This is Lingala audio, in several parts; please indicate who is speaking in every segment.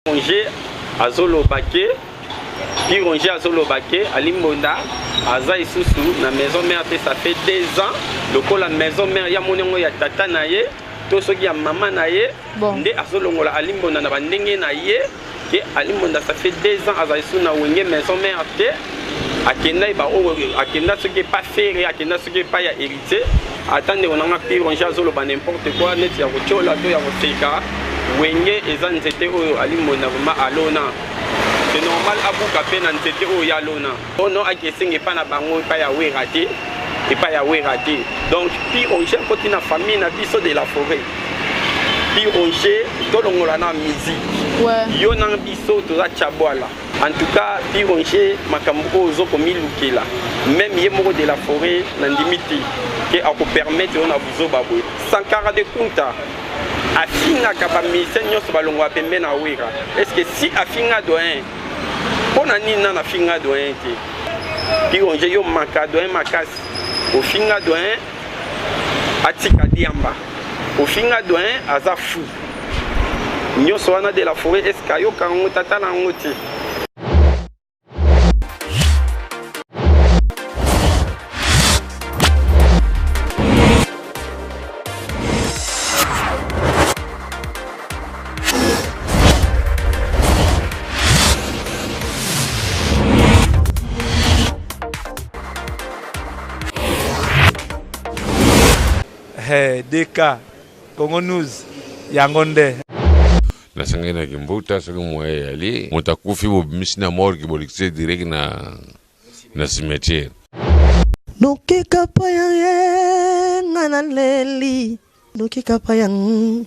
Speaker 1: Pironge azoloba ke Pironge azoloba ke Alimbonda aza isusu na maison mère te ça fait deux ans lokola maison mère ya moni yango ya tata na ye to soki ya mama na ye bon. nde azolongola Alimbonda na bandenge na ye ke Alimbonda ça fait deux ans azali su na wenge maison mère te akendaki baoyo akenda soki epa fere akenda soki epai ya te ata ndeko na nga pironge azoloba n'importe quoi neti ya kotyola to ya koseka wenge eza nzete oyo alimbonda vraimen alona se normal abuka mpe na nzete oyo ya lona ono ake esenga epai na bango epai ya wera te epai ya wera te donc pironge akoti na famille na biso de la forêt pironge tolongola na musique yo na biso toza chabwala En tout cas, Pironger, makambo oyo ozo komilukela. Même ye moko de la forêt na ndimi te ke ako permettre yo na buzoba boye. Sankara de Kunta afingaka ba musiciens nyonso balongwa pembe na Wera. Est-ce que si afinga doyen mpo na nini nana afinga doyen te? Pironger yo maka doyen makasi. Ofinga doyen atika diamba. ofinga doyen aza fou nyonso wana de la foret eske ayoka yango tata na yango te
Speaker 2: Hee DK Congo News yango nde.
Speaker 3: Nasangani na kimbuta soki moyen eyali moto akufi bobimisi na morgue bolekisi direct na na cimetière. Noki
Speaker 4: kapaya eh nga naleli noki kapaya mm.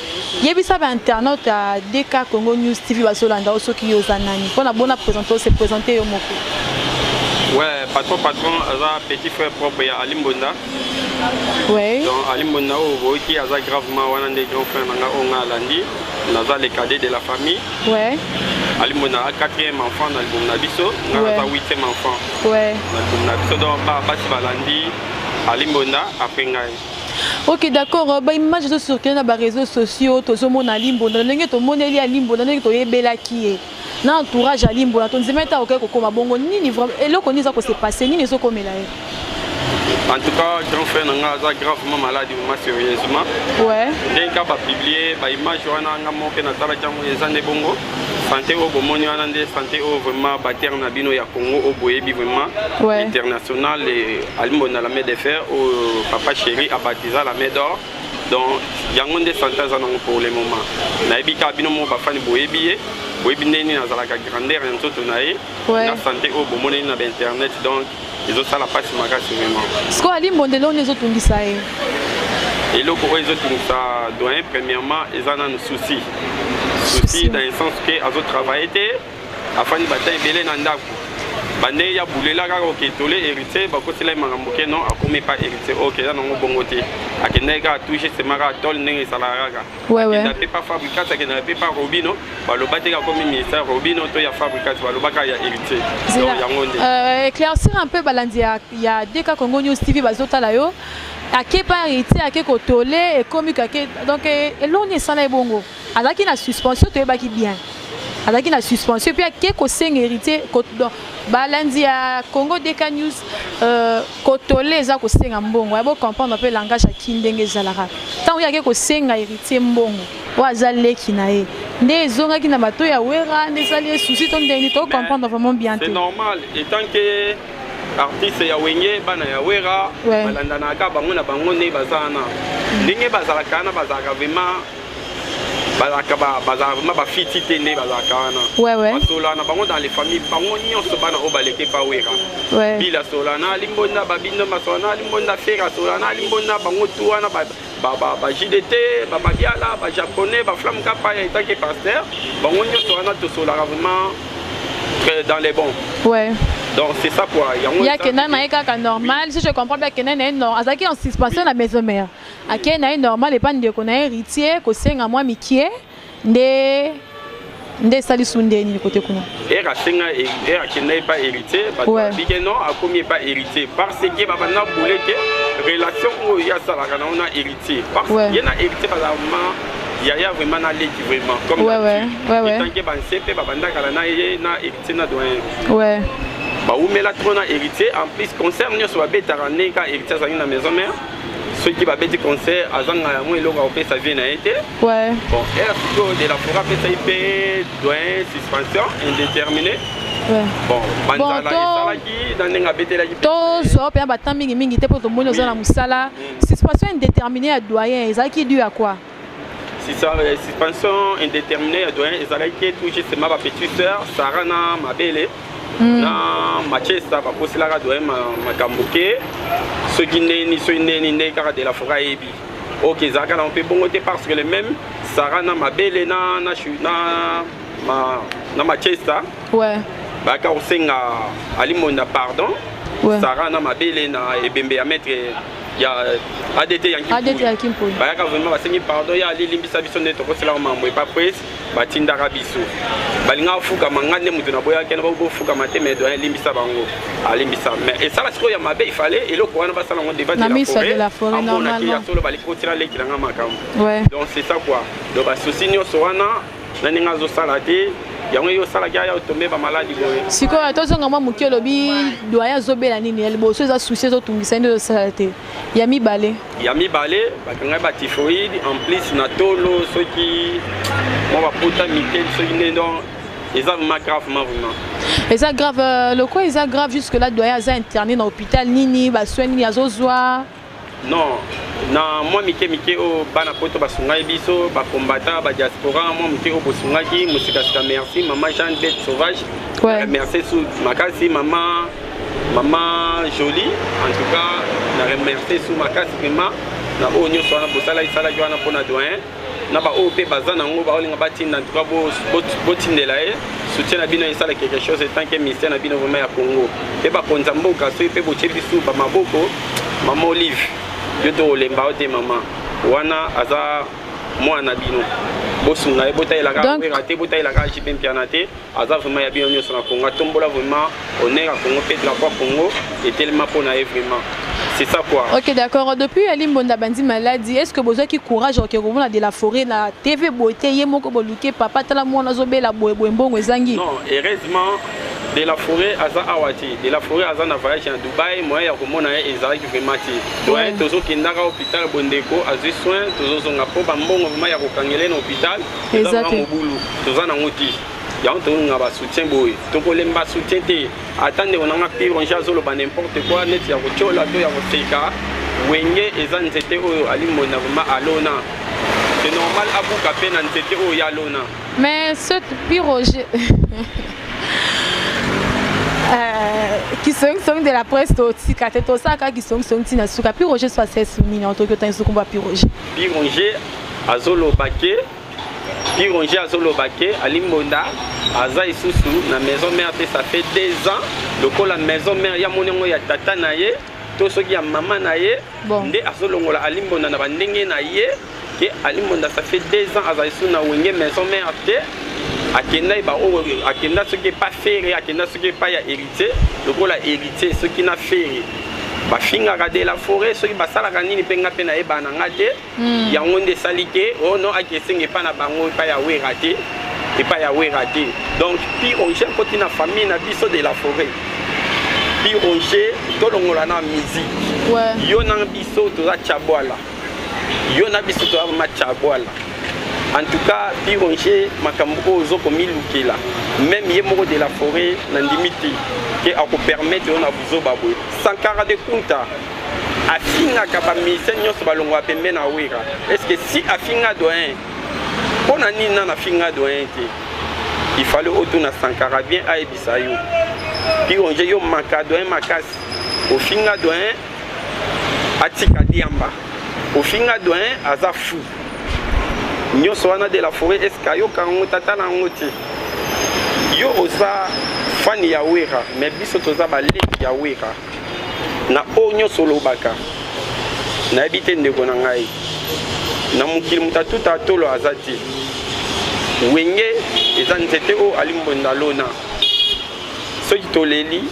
Speaker 5: Yebisa ba internautes ya DK Congo News TV bazolanda yo soki yo oza nani mpo na bona présenter se présenter yo moko. Ouais,
Speaker 1: patron patron aza petit frère propre ya Ali Mbonda.
Speaker 5: Ouais. Donc Ali Mbonda
Speaker 1: oyo boyoki aza gravement wana nde grand frère na nga oyo nga alandi naza le cadet de la famille. Ouais. Ali Mbonda a quatrième enfant na libumu na biso nga naza huitième enfant. Ouais. Na libumu na biso donc basi balandi Ali Mbonda après ngai. ok d'accord
Speaker 5: euh, baimage ezo circule na bareseau sociaux tozomona alimbonda ndenge tomoneli alimbonda ndenge toyebelaki ye na entourage alimbonda tondima ete akokai kokoma bongo nini vraiment eloko nini eza kose passe nini ezokomela ye
Speaker 1: en tout cas grand frère na nga aza gravement malade ma sérieusement ndenge ka bapublie baimage wana nga moke natalaki yango eza nde bongo sante oyo bomoni wana nde sante oyo vraiment baterre na bino ya congo oyo boyebi vraiment ouais. international alimbo na la main de fer oyo papa chéri abatiza la main d'or donc yango nde sante aza nango pour le moment nayebi kaka bino moko bafani boyebi ye boyebi ndenge nini azalaka grandeur ya nzoto na ye na sante oyo bomoneli na bainternet donc ezosala mpasi makasi vraiment sikoyo ali mbonde eloko
Speaker 5: nini ezotungisa ye
Speaker 1: eloko oyo ezotungisa doyen premièrement eza nanu souci souci dans le sens ke azotravaille te afandi bata ebele na ndako bande ya bulela kaka oketole héritier bakosela ye makambo ke non akomi epa héritier oyo keza nango bongo te akendaki kaka touche sema kaka tole ndenge esalaka kaka Ouais, ouais. pe pa fabricat akendaka pe pa robino baloba te akomi ministère robino to ya fabricat balobaka ya héritier donc yango nde euh, éclaircir un peu
Speaker 5: balandi ya, ya deka congo news tv bazotala yo ake pa héritier ake kotole ekomi kake donc eh, eloko nini esala ye bongo azalaki na suspension toyebaki bien azalaki na suspension mpe ake kosenga héritier balandi ya congo deka news euh, Kotole eza kosenga mbongo. Yabo comprendre pe langage ya kin ndenge ezalaka. Tango yake kosenga heritier mbongo. Oyo aza leki na ye. Nde ezongaki na bato ya Wera, nde esali ye souci to ndenge to comprendre vraiment bien te. C'est normal etant
Speaker 1: que artiste ya Wenge bana ya Wera ouais. balandanaka bango na bango nde baza wana. Mm. Ndenge bazalaka wana bazalaka vraiment bazalaka bazalaka vraimen bafiti te nde bazalaka wana basola na bango dans les famille bango nyonso bana oyo baleke pa wera bila asola na alimbonda babindo basola na alimbonda fere asola na alimbonda bango tu wana bajdt bamabiala bajaponais baflamme kapa ya etake paster bango nyonso wana tosolaka vraiment euh, dans les bons ouais. donc c'est ça quoi yango ya kenda na ye
Speaker 5: kaka normal si je comprends bien kenda na ye non azalaki en suspension na maison mère Akei na ye normal epa ndeko na heritier kosenga mwa mikie nde nde esali su nde nini kote kuna ere asenga
Speaker 1: ere akenda epa héritier bato babike non akomi epa héritier parce que babanda bule ke relation oyo ye asalaka nango na héritier parce ye na héritier bazala vraiment yaya vraiment na leki vraiment comme etanke banse mpe babandakala na ye na héritier na doyen bawumela trop na héritier en plus concert nyonso babetaka nde ka héritier azalaki na maison mère soki babeti concert azanga yango eloko akopesa vie na ye te bon r sikoyo de la fora apesaki mpe doyen suspension indéterminé bon banzala esalaki na ndenge abetelaki tozwa mpe na batemp
Speaker 5: mingi mingi te mpo tomoni oza na mosala suspension indéterminé ya doyen ezalaki du ya quoi Euh,
Speaker 1: suspension indéterminée ya doyen ezalaki tout justement bapetite sœur sara na mabele hmm. na machesta bakoselaka doyen makambo ke soki ndeni soki ndeni nde kaka de la foret ayebi ok ezalaka nango mpe bongo te parce que le même sara na mabele na na na na machesta bayaka kosenga alimonda pardon sara na mabele na ebembe ya maître ya adt ya kimpoli bayaka vraiment basengi pardon ya alilimbisa biso nde tokosela mambo epa pres batindaka biso balingaka kofukama ngai nde moto naboyaki na bofukama te mais doyen limbisa bango alimbisa mais esala sikoyo ya mabe ifale eloko wana basala yango devant de la foretamona
Speaker 5: ya solo balikotila
Speaker 1: leki na ngai makambo donc c'est ça quoi donc basusi nyonso wana na ndenge azosala te yango yo osalaki aya otombe bamaladi boye sikoyo tozonga mwa
Speaker 5: moke olobi doye azobela nini ya liboso eza susi ezotungisa nde ozosala te ya mibale ya mibale bakangai batifoide en plus na tolo soki mwa bapota mike soki nde don eza vraimen grave ma vraimen eza grave euh, lokola eza grave jusque là doye aza interne na hôpital nini basoin nini azozwa Non, na mwa mike mike oyo bana poto basungaki biso bakombata badiaspora mwa moke oyo bosungaki mosikasika merci mama jeanne bete sauvage ouais. Euh, merci su makasi mama mama jolie en tout cas na remercie su makasi vraiment na oyo nyonso wana bosalaki salaki wana mpona doyen na baoyo mpe baza na yango baolinga batinda en tout cas botindela ye soutien na bino esala quelque chose etant que ministère na bino vraiment ya congo mpe bakonzi ya mboka soki mpe botie bisu bamaboko mama olive yo to olemba yo te mama wana aza mwana na bino bosunga ye botalelaka wera te botalelaka jipe mpiana te aza vraiment ya bino nyonso na congo atombola vraiment honneur ya congo mpe drapo ya congo etelema mpo na ye vraiment c'est ça quoi ok d'accord depuis ali mbonda bandi maladi est ce que bozwaki courage oke komona de la forêt na tv boye te ye moko boluke papa tala mwana azobela boye boye mbongo ezangi non heureusement de la forêt aza awa te de la forêt aza na voyage na dubai moyen ya komona ye ezalaki vraiment te doyen tozokendaka hôpital bondeko azwi soin tozozonga mpo bambongo vraimen ya kokangele na hôpital eza te mobulu toza nango te yango tolinga ba soutien boye tokolemba soutien te ata ndeko nanga pironge azoloba n'importe quoi neti ya kotyola to ya koseka wenge eza nzete oyo alimbona vraimen alona c'est normal abuka mpe na nzete oyo ya lona mais ce piroge euh, kisongisongi de la presse totika te tosalaka kisongisongi ntina suka piroge sois sesmina otoki otangi sokumba piroge piroge azoloba ke pironge azoloba ke alimbonda aza lisusu na maison mère te ça fait deux ans lokola maison mère ya moni yango ya tata na ye to soki ya mama na ye bon. nde azolongola alimbonda na bandenge na ye ke alimbonda ça fait deux ans azali lisusu na wenge maison mère te akenda ye baoyo akenda soki epa fere akenda soki epa ya héritier lokola héritier soki na fere bafingaka de la forêt soki basalaka nini mpe nga mpe nayebana nga te mm. yango nde esali te oh non ake esenga epai na bango epai ya wera te epai
Speaker 1: ya wera te donc pi roger akoti na famille na biso de la forêt pi roger tolongola na musique ouais. yo na
Speaker 5: biso
Speaker 1: toza chabwala yo na biso toza ma chabwala en tout cas pi roger makambo oyo ozo komilukela meme ye moko de la forêt nandimi te ke akopermettre yo na buzoba boye sankara de kunta afingaka bamusicien nyonso balongwa pembe na wera estce si afinga doyen mpo na nini nana afinga doyen te il fallait otuna sankara bien ayebisa yo pionge yo maka doyen makasi ofinga doyen atika diamba ofinga doyen aza fou nyonso wana de la foret eske ayoka yango tata na yango te yo oza fani ya wera me biso toza baleki ya wera na oyo nyonso olobaka nayebi te ndeko na ngai na mokili moto atuta tolo aza te wenge eza nzete oyo alimbonda lona soki toleli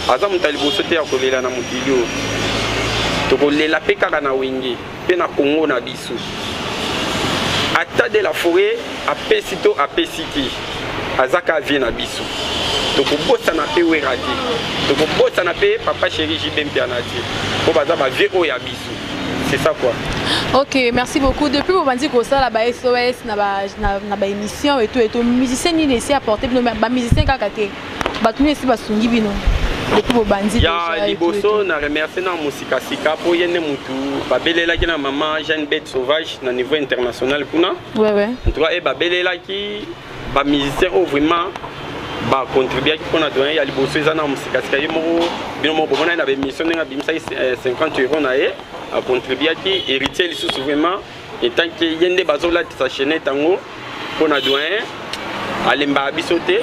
Speaker 1: aza moto ya liboso te ya kolela na mokili oyo tokolela mpe kaka na wenge mpe na congo na biso ata de la foret apesi to apesi te azaka vie na biso tokobosana mpe wera te tokobosana mpe papa chéri jb mpiana te mpo baza bavie oyo ya biso c'est ça quoi ok merci
Speaker 5: beaucoup depuis bobandi kosala ba sos na baémission ba et tout et tout musicien nini esi apporte bino bamusicien kaka te bato nini esi basungi bino depuis bobandi ya liboso na
Speaker 1: remercie na mosikasika mpo ye nde motu babelelaki na mama jeanne bete sauvage na niveau international kuna en tout cas ye
Speaker 5: babelelaki
Speaker 1: bamusicien oyo vraiment bacontribuaki mpo na doyen ya liboso eza na mosikasika ye moko bino moko bomonani na baémission ndenge abimisaki 50 eh, euro na ye acontribuaki héritier lisusu vraiment etant ke ye nde bazolatisa chainete yango mpo na doyen alembaka biso te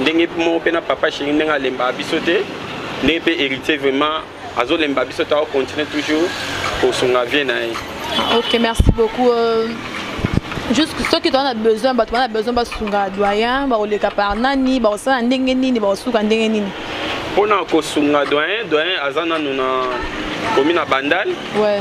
Speaker 1: ndenge moko mpe na papa sheri ndenge alembaka biso te ndenge mpe héritier vraiment azolemba biso te akocontinue toujours kosunga vie na ye ah, ok merci
Speaker 5: beaucoup euh... juste soki toza na besoin bato bana besoin basunga doyen bakoleka par nani bakosala ndenge nini bakosuka ndenge nini mpo na
Speaker 1: kosunga doyen doyen aza nanu na komi na bandal ouais.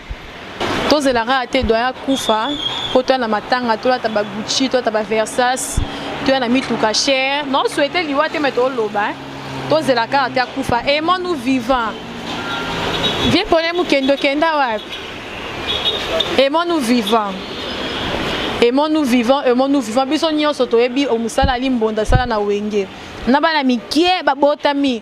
Speaker 5: tozela kaka te doyen akufa mpo toya na matanga tolata bagucci tolata baversas toya na mituka cher nao souhaite liwa te me toloba eh. tozela kaka te akufa aimant nous vivant vie pone mokendo kenda wapi aimant nous vivant aimant nous vivant aimant nous vivant biso nyonso toyebi omosalali mbonda sala na wenge na bana mikie babotami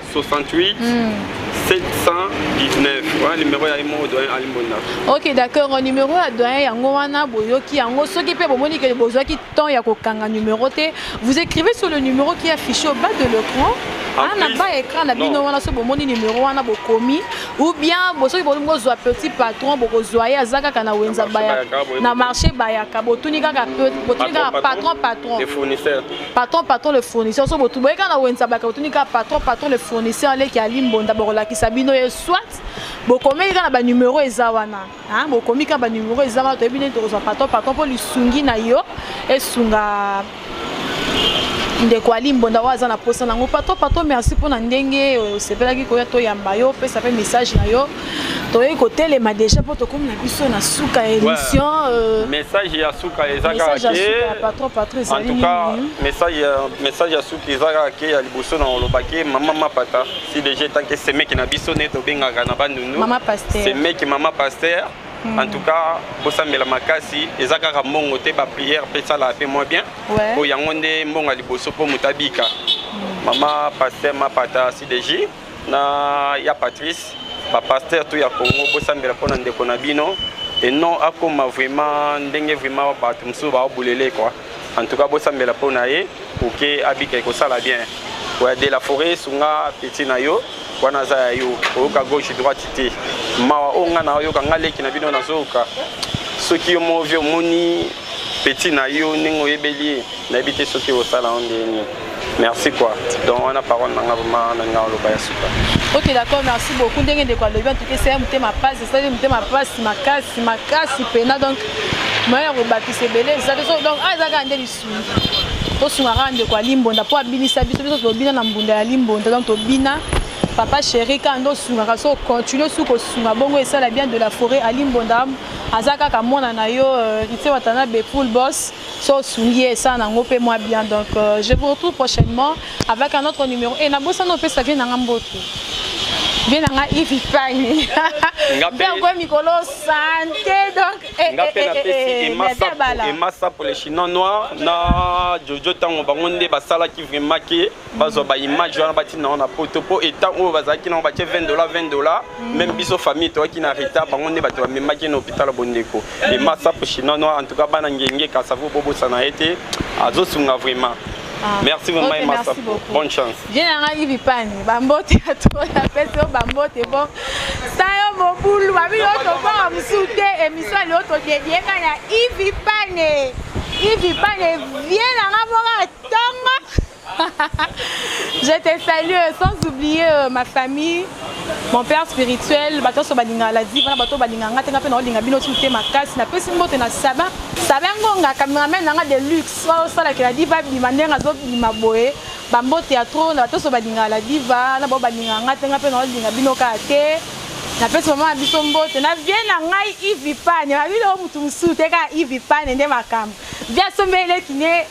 Speaker 1: 68 719 wana numero ya imo doyen alimbonda ok d'accord
Speaker 5: numero ya doyen yango wana boyoki yango soki mpe bomoni ke bozwaki temps ya kokanga numero te vous écrivez sur le numero qui affiché au bas de l'écran ana ba écran na bino wana soki bomoni numero wana bokomi ou bien soki bolingi bozwa petit patron bokozwa ye aza kaka na wenza na marché bayaka botuni kaka patron patron
Speaker 1: patron patron le
Speaker 5: fournisseur so botu boyeka na wenza baka botuni kaka patron patron le fournisseur leki ya limbonda bokolakisa bino ye soit bokomeli kaka na banumero eza wana bokomi kaka banumero eza wana toyebi nini tokozwa patron patron mpo lisungi na yo esunga ndeko ali mbonda oyo aza na mposa nango patron patron merci mpo na ndenge osepelaki koya toyamba yo opesa mpe message na yo toyei kotelema deja mpo tokomi na biso na suka ya émission euh, message
Speaker 1: ya suka eza kaka message ya suka eza kaka ke ya liboso na olobaki mama mapata si deja etanke semeki na biso nde tobengaka na bandundu semeki
Speaker 5: mama paster
Speaker 1: Hmm. en tout cas bosambela makasi eza kaka mbongo te baprière mpe esalaka mpe moins bien mpo yango nde mbongo ya liboso mpo moto abika hmm. mama paster mapata cdj na ya patrice bapaster to ya congo bosambela mpo na ndeko na bino et non akoma vraiment ndenge vraiment bato mosusu baobulele kua en tout cas bosambela mpo na ye oke abika ekosala bien oya de la forêt sunga peti na yo wana aza ya yo oyoka gauche droite te mawa oyo ngai nayoka ngai leki na bino nazoyoka soki yo movie omoni peti na yo ndenge oyebeli ye nayebi te soki osala yango ndenge nini merci quoi donc wana parole na nga vraimen na nga oloba ya suka ok d'accord merci
Speaker 5: beaucoup ndenge ndeko alobi antuka esali motema mpasi esali motema mpasi makasi makasi mpena donc moyen ya kobakisa ebele eza te donc awa ah, eza kaka nde lisungi tosunga kaka ndeko ya limbonda mpo abinisa biso biso tobina na mbunda ya limbonda donc tobina papa chéri kaka nde osungaka so continue su kosunga bongo esala bien de la forêt alimbonda aza kaka mwana na yo euh, itse watana bepool boss so osungi ye esala nango mpe mwa bien donc euh, je vous retrouve prochainement avec un autre numéro e nabosana opesa vie na nga mbotu vie na nga ivi pani mpe okoye mikolo sante donc eh, nga mpe eh, eh,
Speaker 1: napesi emasapo le chinois noir na jojo ntango bango nde basalaki vraiment ke bazwa ba image wana batinda yango na poto mpo etat oyo bazalaki nango batye 20 dola 20 dola mm. meme biso famille toyaki na retard bango nde bato bamemaki na hôpital ya bondeko mm. emasapo shinano en tout cas bana ngenge kasavo bobosana ye te azosunga vraiment Ah. Merci vraiment, okay, merci beaucoup. Bonne chance. Bien, on a Yves Pani.
Speaker 5: Bambote à toi, la fête, oh, bambote, bon. Ça y est, mon boulot, ma vie, on te voit, on me soutient, et mi soit l'autre, on te dit, il y a Yves Pani. Yves Pani, viens, on a Je te salue, euh, sans oublier euh, ma famille, mon père spirituel, bato so balinga la diva, bato balinga ngate ngape na olinga bino tute makasi, na pesi mbote na saba. Saba ngonga cameraman nanga de luxe, wa sala ke la diva bima ndenga zo bima boye. Ba mbote ya trop na bato so balinga la diva, na bo balinga ngate ngape na olinga bino ka te. Na pesi mama biso mbote, na vie na ngai Ivy Pane, ba bino mutu musu te ka Ivy Pane nde makambo. Via sombele kine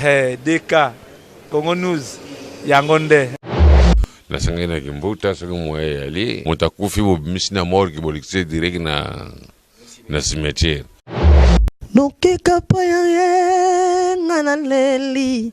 Speaker 2: Hey, DK, Congo News, yango nde.
Speaker 3: nasangaki na kimbuta soki moya eyali moto akufi bobimisi na morgue bolekisi direct na na cimetière
Speaker 4: nokeka po ya ye nga naleli